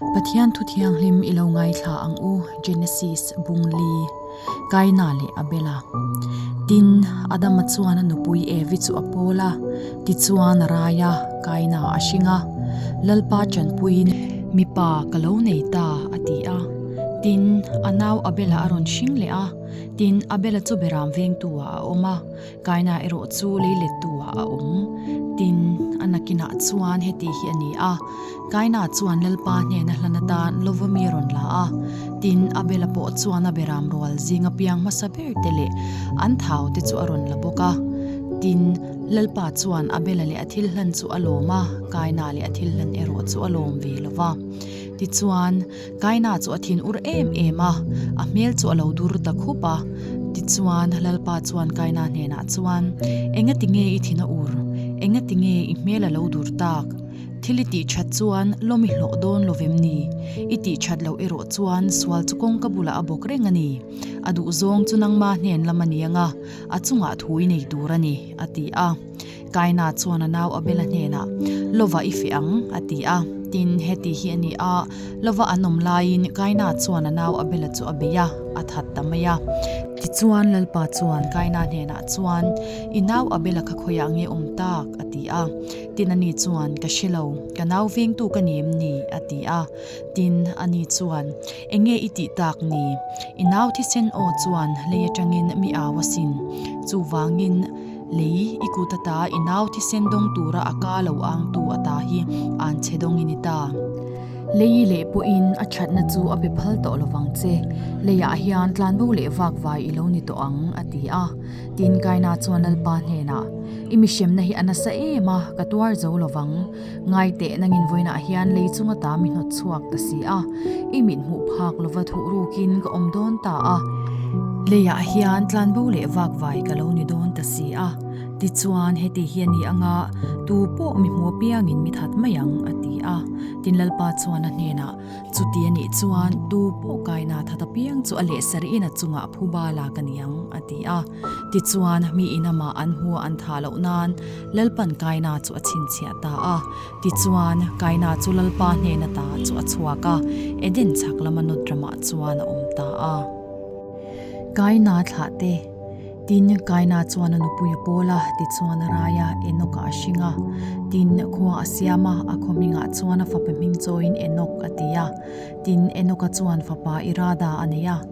Pathian Thu Thianghlim i lo ngaithla ang u, Genesis, Bung li, Kaina leh Abela. Tin, Adama chuan a nupui Evi chu a pawl a, tichuan a rai a, Kaina a hring a. Lalpa ṭanpuiin, Mipa ka lo nei ta, a ti a. Tin, a nau Abela a rawn hring leh a. Tin, Abela chu Beram vengtu-ah a awm a. Kaina erawh chu lei let tu ah a awm. Tin, a nakin ah chuan heti hi a ni a, Kaina chuan Lalpa hnena hlan atan Lovami a rawn la a. Tin, Abela pawh chuan a be ram rual zing a piang hmasa ber te leh an thau te chu a rawn la bawk a. Tin, Lalpa chuan Abela leh a thil hlan chu a lawm a, Kaina leh a thil hlan erawh chu a lawm ve lo va. Tichuan. Kaina chu a thin ur em em a, a hmel chu a lo dur ta khup a. Tichuan Lalpa chuan Kaina hnenah chuan, Engati nge i thin a ur? Engati nge i hmel a lo dur tak? Thil i tih that chuan lawm i hlawh dawn lo vem ni? I tih that loh erawh chuan sual chu kawngka bulah a bawk reng a ni. A duhzawng chu nangma hnen lam a ni anga, a chungah thu i nei tur a ni, a ti a. Kaina chuan a nau Abela hnenah, Lova i feh ang, a ti a. Tin, heti hi a ni a, Lova an awm laiin Kaina chuan a nau Abela chu a bei a, a that ta mai a. Tichuan, Lalpa chuan Kaina hnenah chuan, I nau Abela kha khawiah nge awm tak? a ti a. Tin, ani chuan, Ka hre lo, ka nau vengtu ka ni em ni? a ti a. Tin, ani chuan, Enge i tih tak ni? I nau thisen aw chuan lei atangin mi au a sin. Chuvangin. Lei i kut a ta, i nau thisen dawng tura a ka lo ang tu a ta hi an che dawng i ni ta. Lei leh pawhin a thatna chu a pe phal tawh lo vang che. Leiah hian tlanbo leh vakvai i lo ni tawh ang a ti a. Tin kaina chuan Lalpa hnenah, I mihremna hi a nasa em a, ka tuar zo lo vang. Ngai teh nang in vawiin ah hian lei chunga ta mi hnawt chhuak ka si a, i mit hmuh phak lova thuh ruk in ka awm dawn ta a, lei ah hian tlan bo leh vak vai ka lo ni dawn ta si a, ti chuan heti hi a ni ang a, tu pawh mi hmu apiang in mi that mai ang a ti a, tin Lalpa chuan a hnen ah, chu ti a nih chuan tu pawh kai na that apiang chu a leh sar in a chung ah phu bal a ka ni ang a ti a. Tichuan, mi inam ah an hmua an tha loh nain Lalpa'n kaina chu a chhinchhiah ta a. Tichuan, kaina chu Lalpa hnen atah chu a chhuak a, Eden chhak lama nawt ramah chuan a awm ta a. Kaina thlah te. Tin, kaina chuan a nupui a pawl a, tichuan a rai a, Enoch ah a hring a. Tin, khua a siam a, a khawhming ah chuan a fapa hming chawiin Enoch a ti a. Tin, Enoch a chuan fapa Irada a nei a.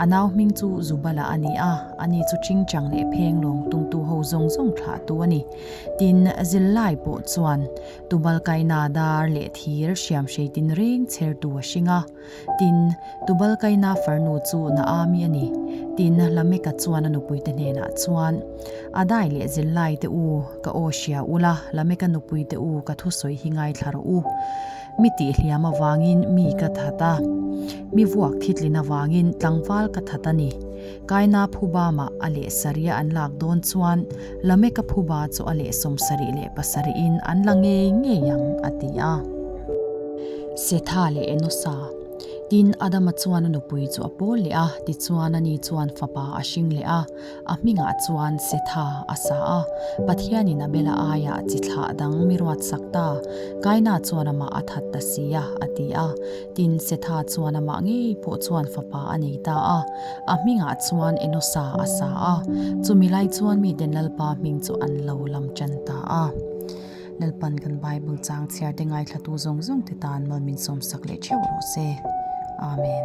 A nau hming chu Zubala a ni a, ani chu tingtang leh phenglawng tungtu ho zawng zawng thlahtu a ni. Tin, zirlai pawh chuan Tubal kaina dar leh thir hriam hrei tin reng chhertu a hring a. Tin, Tubal kaina farnu chu Naami a ni. Tin, Lameka chuan a nupuite hnenah chuan, Adai leh zirlaite u, ka aw hria ula, Lameka nupuite u, ka thusawi hi ngaithla rawh u. Mi tih hliam avangin mi ka that a, mi vuak thitlin avangin tlangval ka that a ni. Kaina phubama a leh sarih a an lak dawn chuan Lameka phuba chu a leh sawm sarih leh pasarihin an la ngei ngei ang, a ti a. Setha leh Enosa. Tin, Adama chuan a nupui chu a pawl leh a, tichuan ani chuan fapa a hring leh a. A hmingah chuan setha a sa a, Pathianin a bela aiah chi thlah dang mi ruatsak ta, kaina chuan amah a that ta si a, a ti a. Tin, setha chuan amah ngei pawh chuan fapa a nei ta a. A hmingah chuan Enosa a sa a. Chumi lai chuan miten Lalpa hming chu an lo lamṭan ta a. Lalpan kan Bible changchhiar te ngaithlatu zawng zawng te tan mal min sawm sak leh theuh rawh se. Amen.